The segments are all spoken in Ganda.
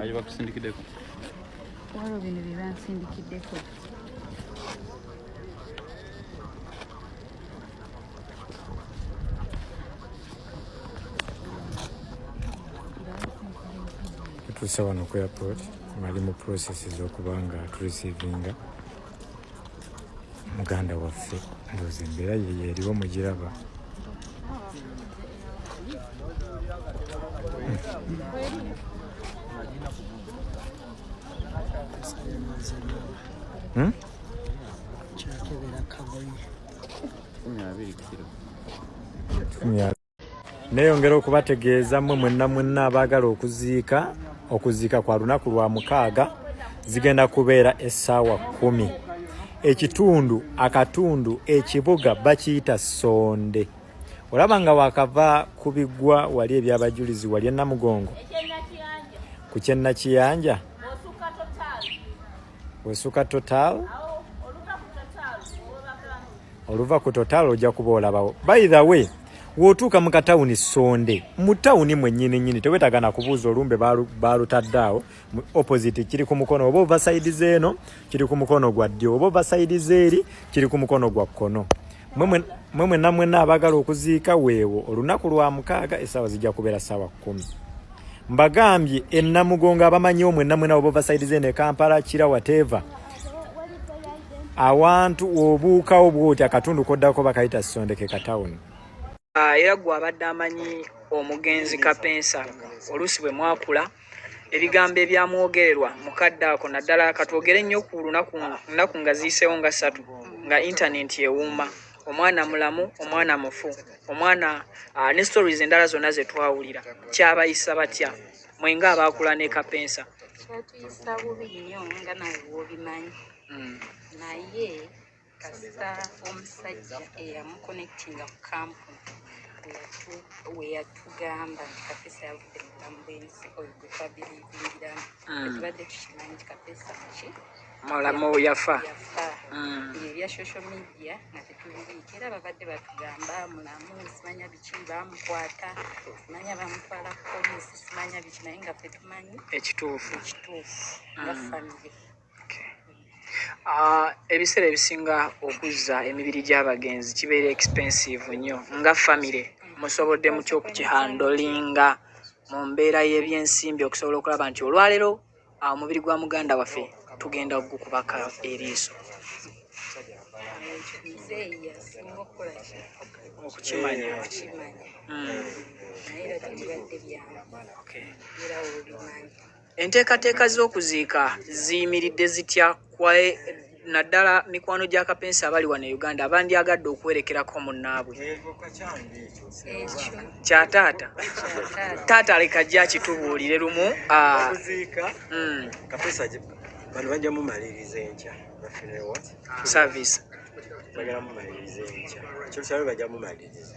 Aje bakusindikiddeko. Waliwo bino bye bansindikiddeko. tutuuse wano ku airport mali mu process z'okuba nga turisiivinga muganda waffe ndoozi embeera yeyo eriwo mugiraba Hmm? Yeah, I really Neyongera okubategeeza mmwe mwenna mwenna abaagala okuziika okuziika kwa lunaku lwa mukaaga zigenda kubeera essaawa kkumi ekitundu akatundu ekibuga bakiyita sonde olaba nga wakava ku biggwa wali ebyabajulizi wali enamugongo ku kyennakiyanja wesuka total oluva ku total ojja kuba olabawo by the way wotuuka mu katawuni sonde mu tawuni mwenyini nyini tewetaga na kubuuza olumbe balutadde awo opposite kiri ku mukono oba ova saidi zeeno kiri ku mukono gwa ddyo oba ova saidi zeeri kiri ku mukono gwa kkono mwe mwenna mwenna abagala okuziika weewo olunaku lwa mukaaga esaawa zijja kubeera saawa kumi mbagambye enamugongo abamanyi omwe namwena obova side zene kampala kira wateva awantu obuuka obwoti akatundu koddako bakayita sondeke ka town ah, era gwe abadde amanyi omugenzi kapensa oluusi bwe mwakula ebigambo ebyamwogererwa mukadde ako naddala katwogere nnyo ku lunaku nnaku nga ziyiseewo nga ssatu nga intanenti ewuuma omwana mulamu omwana mufu omwana ah, ne stories endala zonna ze twawulira kyabayisa batya mwe nga abaakula ne kapensa kyatuyisa bubi nnyo nga nawe wobimanyi hmm. naye kasita omusajja eyamukonectinga ku kampu weyatugamba nti kapesa yavudde mu bulamu bwensi oyo gwe twabilibingiramu hmm. etubadde tukimanyi nti kapesa ki mulamu yafa yafa hmm. ebya social media nga tetubibiika era babadde batugamba mulamu simanya biki bamukwata simanya bamutwala ku polisi simanya biki naye nga fe tumanyi ekituufu ekituufu nga hmm. famiry Ah, ebiseera ebisinga okuzza emibiri gy'abagenzi kibeera expensive nnyo nga famire musobodde mutya okukihandolinga mu mbeera y'ebyensimbi okusobola okulaba nti olwaleero ah, omubiri gwa muganda waffe tugenda okugukubaka eriiso okukimanya Mm, okay. Enteekateeka z'okuziika ziyimiridde zitya kwaye naddala mikwano gya kapensi abali wano e uganda abandyagadde okuwerekerako munnaabwe kya taata taata leka gye akitubuulire lumu ah. hmm. bano bajja mumaliriza enkya service bagala mumaliriza enkya kyosabe bajja mumaliriza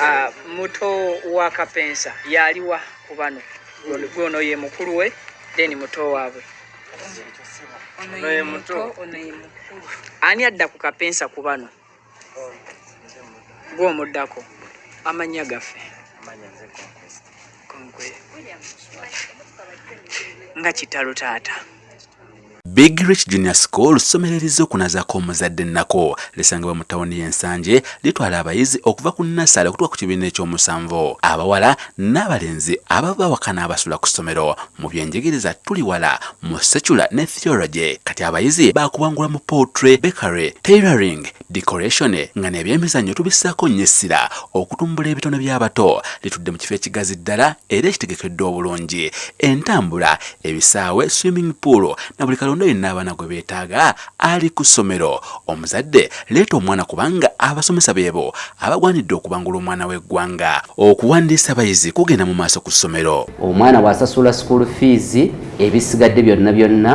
ah, muto wa kapensa yaliwa ku bano gwono ye mukulu we then muto waabwe ani adda ku kapensa ku bano gwomuddako amanya gaffe nga kitalo taata Big Rich Junior School ssomero erizokunazako omuzadde ennako lisangibwa mu tawuni y'ensanje litwala abayizi okuva ku nasale okutuka ku kibiina ekyomusanvu abawala n'abalenzi ababa bawakana abasula ku ssomero mu byenjigiriza tuli wala mu secula ne theology kati abayizi bakubangula mu poultry bakery tailoring decoration nga nebyemizannyo tubissaako nnyo essira okutumbula ebitone by'abato litudde mu kifo ekigazi ddala era ekitegekeddwa obulungi entambula ebisaawe swimming pool na buli kalonda yenna abaana gwe beetaaga ali ku ssomero omuzadde leeta omwana kubanga abasomesa beebo abagwanidde okubangula omwana w'eggwanga okuwandiisa abayizi kugenda mu maaso ku ssomero omwana bw'asasula school fees ebisigadde byonna byonna